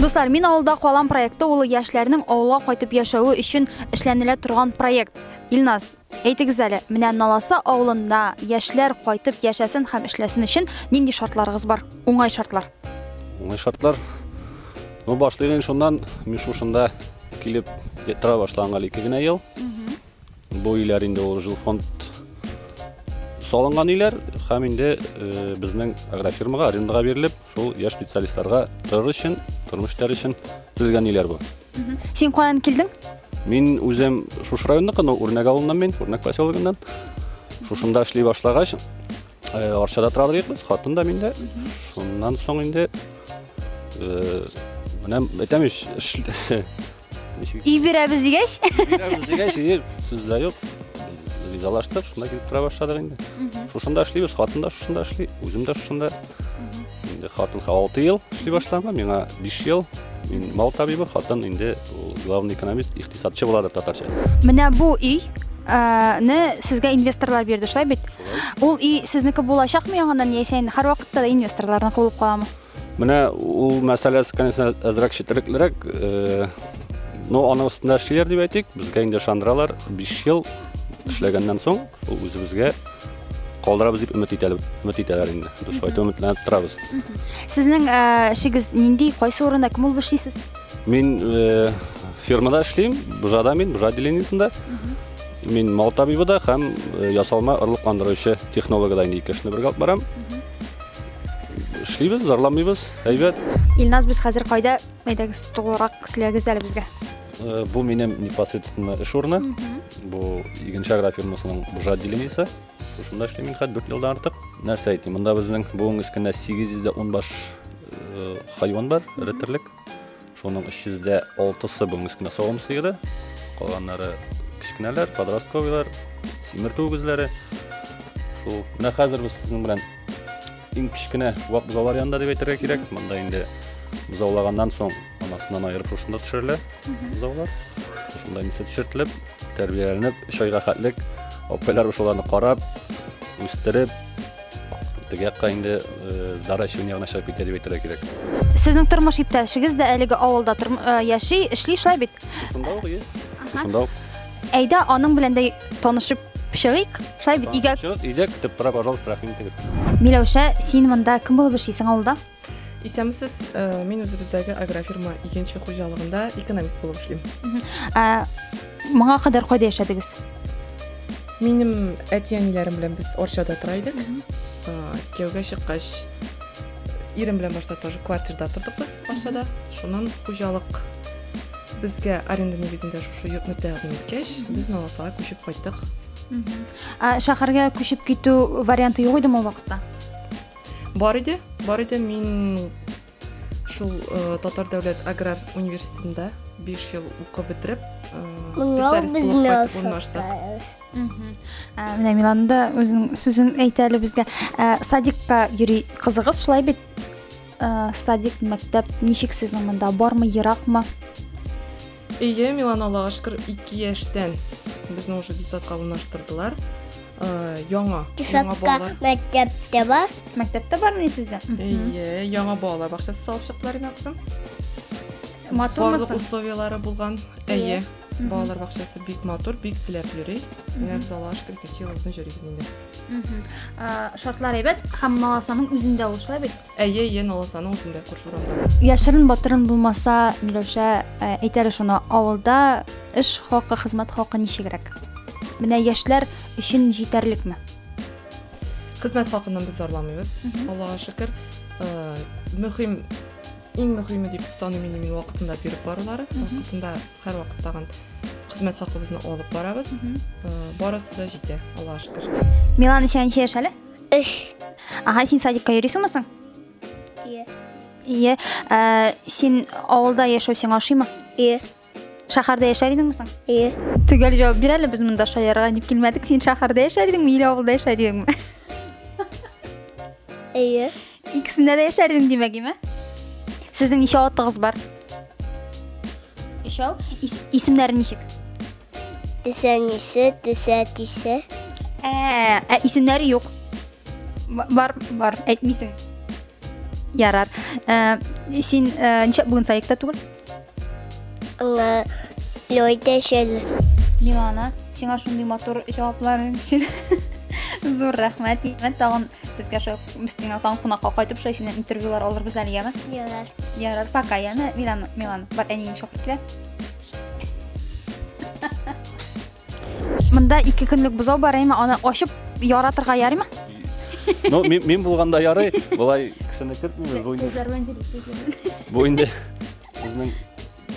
Дуслар, мин авылда калам проекты улы яшьләрнең авылга кайтып яшәве өчен эшләнелә торган проект. Илназ, әйтегез әле, менә Наласа авылында яшьләр кайтып яшәсен һәм эшләсен өчен нинди шартларыгыз бар? Уңай шартлар. Уңай шартлар. Ну, башлыйм шуннан, мин шушында килеп тора башлаганга ике генә ел. Бу өйләр инде ул жилфонд салынган өйләр һәм инде э, безнең агрофирмага арендаға бирелеп, шул яшь специалистларга торыр өчен, тормыш итәр өчен төзелгән өйләр бу. Син каян килдең? Мин үзем шушы районныкы, но Үрнәк авылыннан мин, Үрнәк поселогыннан. Шушында эшли башлагач, э, Арчада тора идек без, хатын да мин дә. Шуннан соң инде э, менә әйтәм ич, эш- Ив бирәбез дигәч. Бирәбез дигәч, ир сүз дә юк. Ризалаштык, шунда килеп тора башладык инде. Шушында эшлибез, хатын да шушында эшли, үзем дә шушында. Инде хатынга 6 ел эшли башлаганга, миңа 5 ел. Мин мал табибы, хатын инде главный экономист, икътисадчы буладыр татарча. Менә бу өй не сезгә инвесторлар бирде, шулай бит? Ул и сезнеке булачакмы яңадан яисә инде һәрвакытта да инвесторларны куылып каламы? Менә ул мәсьәләсе, конечно, әзрәк четереклерәк. Э, но аның өстендә эшлиләр дип әйтик. Безгә инде шандралар 5 ел эшләгәннән соң ул үзебезгә калдырабыз дип өмет итәләр, өмет итәләр инде. Дөрес айтып өметләнеп торабыз. Сезнең э, эшегез нинди, кайсы урында кем булып эшлисез? Мин э, фермада эшлим, бужада мин, бужа отделениесендә. Мин мал табибы да һәм ясалма орлыкландыручы технологы да инде ике эшне бергә алып барам. Эшлибез, зарламыйбыз, әйбәт. Илназ, без хәзер кайда? Әйдәгез, тулырак сөйләгез әле безгә. Э, бу минем непосредственно эш урыны. Бу Игенча агрофирмасының бужа отделениесе. Шушында эшлим мин хәзер 4 елдан артык. Нәрсә әйтим, монда безнең буын өстендә 810 баш э, хайван бар, реттерлек. Шуның 306-сы бүгенге көне савым сыеры, калганнары кечкенәләр, подростковыйлар, симертү үгезләре. Шул менә хәзер без сезнең белән иң кечкенә вак бозаулар янында дип әйтергә кирәк. Монда инде бозаулаганнан соң анасыннан айырып шушында төшерелә бозаулар. Шушында инде төшертелеп, тәрбияләнеп, 3 айга хәтлек апайлар шуларны карап, үстереп, Теге якка инде э, Дара чын ягына чыгып китә дип әйтергә кирәк. Сезнең тормыш иптәшегез дә әлеге авылда тор- э, яши, эшли шулай бит. Шунда ук, ие. Ага. Шунда ук. Әйдә, аның белән дә танышып чыгыйк. Шулай бит, өйгә Чыгып, Өйдә көтеп тора, пожалуйста, рәхим итегез. Миләүшә, син монда кем булып эшлисең авылда? Исәмсез, э, мин үзебездәге агрофирма икенче хуҗалыгында экономист булып эшлим. Ә моңа кадәр кайда яшәдегез? Минем әти-әниләрем белән без Орчада тора идек. Кияүгә чыккач, ирем белән башта тоже квартирда тордык без Орчада. Шуннан хуҗалык безгә аренда нигезендә шушы йортны тәкъдим иткәч, без Наласага күчеп кайттык. Ә шәһәргә күчеп китү варианты юк идеме ул вакытта? Бар иде, бар иде. Мин шул э, Татар дәүләт аграр университетында 5 ел укып бетереп, э, специалист булып кайтып урнаштык. Ә, менә Миланда үзенең сүзен әйтә әле безгә. Ә, садикка йөри кызыгыз шулай бит? Ә, садик, мәктәп ничек сезнең монда? Бармы, еракмы? Әйе, Милана Аллага шөкер 2 яшьтән безне уже детсадка урнаштырдылар. Э, яңа, яңа балалар. мәктәптә бар. Мәктәптә бармы сездә? Әйе, яңа балалар бакчасы салып чыктылар инде кызым. Матурмы? Барлык условияләре булган. Әйе. Балалар бакчасы бик матур, бик теләп йөри. Менә без Аллага шөкер 2 ел озын йөрибез инде. Шартлар әйбәт, һәм маласаның үзендә ул шулай бит. Әйе, әйе, налассаның үзендә күрше урамдагы. Яшерен батырын булмаса, Миләүшә, ә, әйтәле шуны, авылда эш хакы, хезмәт хакы ничегрәк? Менә яшьләр өчен җитәрлекме? Хезмәт хакыннан без зарламыйбыз, Мгм. Аллага шөкер. Э, Мөһим, иң мөһиме дип саныйм инде мин вакытында биреп барулары. Мгм. Вакытында һәрвакыт тагын хезмәт хакыбызны алып барабыз. Э, Барысы да җитә, Аллага шөкер. Милан исәнчә яшәле. Өч. Ага, син садикка йөрисең мисың? Ие. Ие. Ә, син авылда яшәү сиңа ошыймы? Ие. Шәһәрдә яшәр идеңме соң? Ие. Төгәл җавап бир әле, без монда шаярга дип килмәдек. Син шәһәрдә яшәр идеңме или авылда яшәр идеңме? Ие. Икесендә дә яшәрдең димәк, име? Сезнең ничә атыгыз бар? Өчәү. Исемнәре ничек? Тесәнисе, тесәтисе. Ә, ә исемнәре юк. Бар, бар, әйтмисең. Ярар. Ә, син ә, ничә бүген саекта түгел? Аңа Лёйдә шел. Лимана, сиңа шундый матур җавапларың өчен зур рәхмәт. Мен тагын безгә шул сиңа тагын кунакка кайтып шулай синнән интервьюлар алырбыз әле, яме? Ярар. Ярар, пока, яме? Милана, Милана, бар әнине чакырып килә. Монда ике көнлек бозау бар, әйме аны ачып яратырга ярыймы? Ну, мин, мин булганда ярый, болай кешене кертмибез. Бу инде бу инде безнең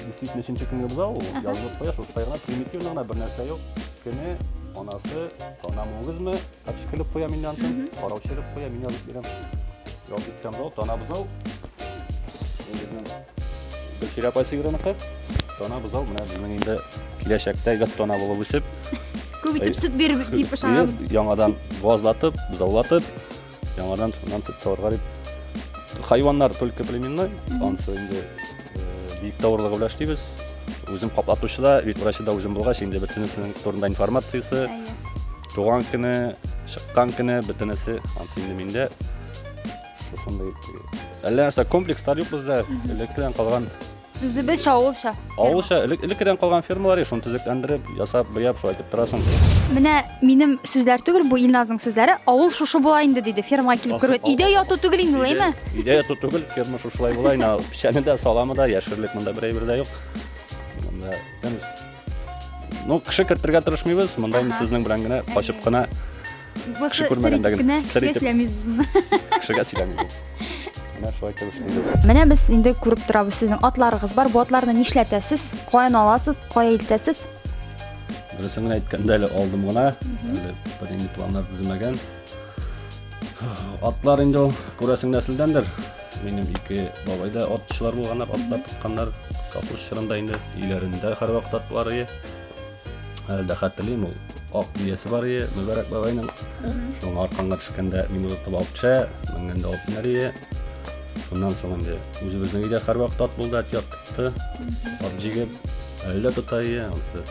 действительно өченче көнге бозау, ул язылып куя, шуштай гына примитивно гына бер нәрсә юк. Кене, анасы, танамыгызмы? Әчкелек куя мин янтын, караучылык куя мин язып бирәм. Ял иткән бау, тана бузау. Гөлчирә апай сыйгырыныкы. Тана бузау, менә безнең инде киләчәктә гәт тана булып үсеп. Күп итеп сөт бирер дип ышанабыз. Яңадан базлатып, бузаулатып, яңадан шуннан сөт савырга дип. Хайваннар только племенной, ансы инде бик тавырлыгы белән эшлибез. Үзем каплатучы да, вид врачы да үзем булгач, инде бөтенесенең турында информациясе, Туган көне, чыккан көне бөтенесе ансинде миндә. Шушындый. Әллә нәрсә комплекслар юк бездә. Элеккедән калган Үзебез шавылша. Авылша элек элеккедән калган фермалар шуны төзекләндереп, ясап, буяп шулай итеп торасың. Менә минем сүзләр түгел, бу Илназның сүзләре. Авыл шушы була инде диде. Фермага килеп керү. Өйдә яту түгел инде ул, әйме? Өйдә яту түгел, ферма шушылай була инде. Печәне дә, саламы да, яшерлек монда бер әйбер дә юк. Монда Ну, кеше кертергә тырышмыйбыз, монда инде сезнең белән генә качып кына Кеше күрмәгәндә генә сер итеп кешегә сөйләмибез. Менә шулай итеп эшлибез. Менә без инде күреп торабыз, сезнең атларыгыз бар. Бу атларны нишләтәсез? Каян аласыз? Кая илтәсез? Дөресен генә әйткәндә әле алдым гына, әле бернинди планнар төземәгән. Атлар инде ул күрәсең нәселдәндер. Минем ике бабай да атчылар булганнар, атлар тотканнар. Капуш чорында инде өйләрендә һәрвакыт атлар ие. Әле дә хәтерлим ул ак биясе бар ие, Мөбарәк бабайның. Шуның арканга төшкәндә мин озатып алып төшә, менгәндә алып менәр ие. Шуннан соң инде үзебезнең өйдә һәрвакыт ат булды, ат яттыкты. Ат җигеп, әле дә тота ие. Анысы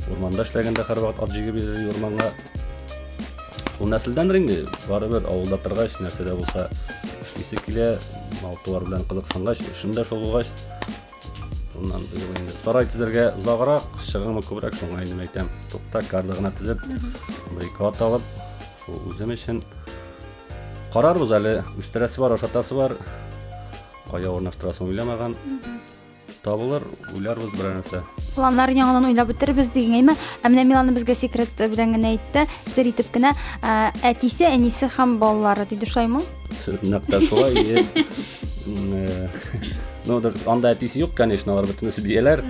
Урманда эшләгәндә һәрвакыт ат җигеп йөрде урманга. Ул нәселдәндер инде, барыбер авылда торгач, нәрсә дә булса эшлисе килә, мал-туар белән кызыксынгач, эшем дә шул булгач, шуннан быел инде сарай төзергә озаграк, чыгымы күбрәк, шуңа инде әйтәм, тукта карда гына тезеп, бер ике ат алып, шул үзем өчен карарбыз әле, үстерәсе бар, ашатасы бар, кая урнаштырасың уйламаган. Табылыр, уйларбыз бер нәрсә. Планнар яңадан уйлап үтербез дигән әйме. Ә менә Милана безгә секрет белән генә әйтте, сер итеп кенә, ә, әтисе, әнисе һәм балалары диде шулаймы? Нәкъ тә шулай. е. М, э, Ну, да, анда әтисе юк, конечно, алар бөтенесе бияләр.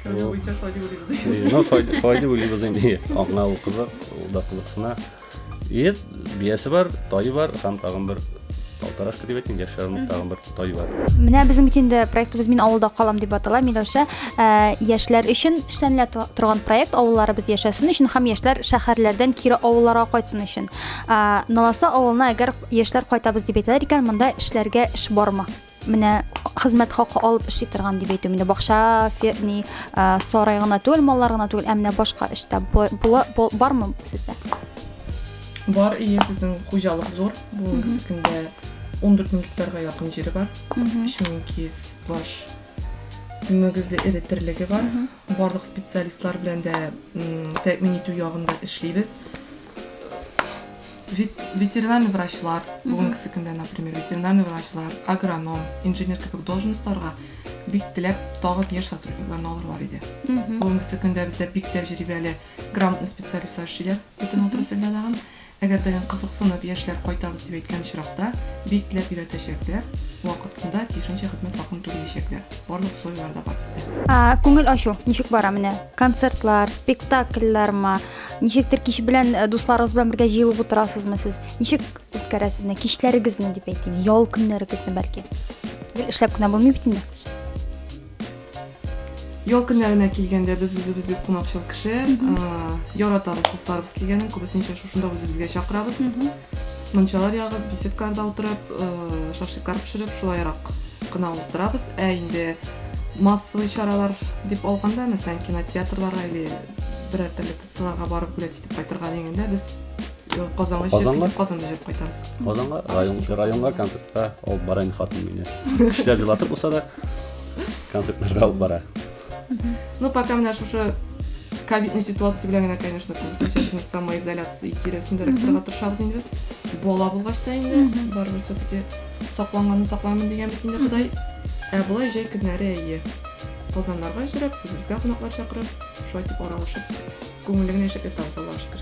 Шул- Буенча шулай дип уйлыйбыз. Э, Ну, шулай шулай дип уйлыйбыз инде. Аңа ул кызык, ул да кызыксына. Ет, биясе бар, тайы бар, һәм тагын бер алтарашка дип әйтим, яшь ярымлык тагын бер тай бар. Менә безнең бит инде проектыбыз Мин авылда калам дип атала. Миләүшә ә, яшьләр өчен эшләнелә тор- торган проект авылларыбыз яшәсен өчен һәм яшьләр шәһәрләрдән кире авылларга кайтсын өчен. Ә, Наласа авылына әгәр яшьләр кайтабыз дип әйтәләр икән, монда эшләргә эш бармы? Менә хезмәт хакы алып эшли торган дип әйтү менә бакча ферни сарай гына түгел маллар гына түгел ә менә башка эштә бармы сездә бар ие безнең хуҗалык зур бүгенге көндә он дүрт мең гектарга якын җире бар өч мең ике йөз баш мөгезле эре терлеге бар Барлык специалистлар белән дә тәэмин итү ягында эшлибез. Ветеринарный врачлар, бүгенгесе көндә, например, ветеринарный врачлар, агроном, инженер кебек должностьларга бик теләп тагын яшь сотрудникларны алырлар иде. Бүгенгесе көндә бездә бик тәҗрибәле грамотный специалистлар эшлиләр бөтен отрасльдә тагын. Әгәр тагын кызыксынып, яшьләр кайтабыз дип әйткән очракта, бик теләп өйрәтәчәкләр, вакытында, тиешенчә хезмәт хакын түлиячәкләр. Барлык условияләр дә бар бездә. Күңел ачу ничек бара менә? Концертлар, спектакльләрме? Ничектер кич белән э, дусларыгыз белән бергә җыелып утырасызмы сез? Ничек үткәрәсез менә кичләрегезне дип әйтим, ял көннәрегезне бәлки? Гел эшләп кенә булмый бит инде. Ял көннәренә килгәндә без үзебез бик кунакчыл кеше. Яратабыз дусларыбыз килгәнен, күбесенчә шушында үзебезгә чакырабыз. Мунчалар ягып, беседкаларда утырып, шашлыклар пешереп, шулайрак кына уздырабыз. Ә инде массовый чаралар дип алганда, мәсәлән, кинотеатрларга или берәр төрле Селага барып бүләк итеп кайтырга дигәндә без э, Казанга җыеп Казанга? китеп Казанда җыеп кайтабыз. Казанга район, районга концертка алып бара инде хатын мине. Кешеләр елатып булса да концертларга алып бара. Ну, пока менә шушы ковидный ситуация белән генә, конечно, күбесенчә безнең самоизоляция тирәсендә торырга тырышабыз инде без. Бала булгач та инде, Мгм. барыбер все-таки сакланганны сакланмын дигән бит инде Ходай. Ә болай җәй көннәре әйе. Казаннарга җөрәп, үзебезгә кунаклар чакырып, Шулай итеп аралашып, күңелеңне яшәтә табыз, Аллаһ шөкер.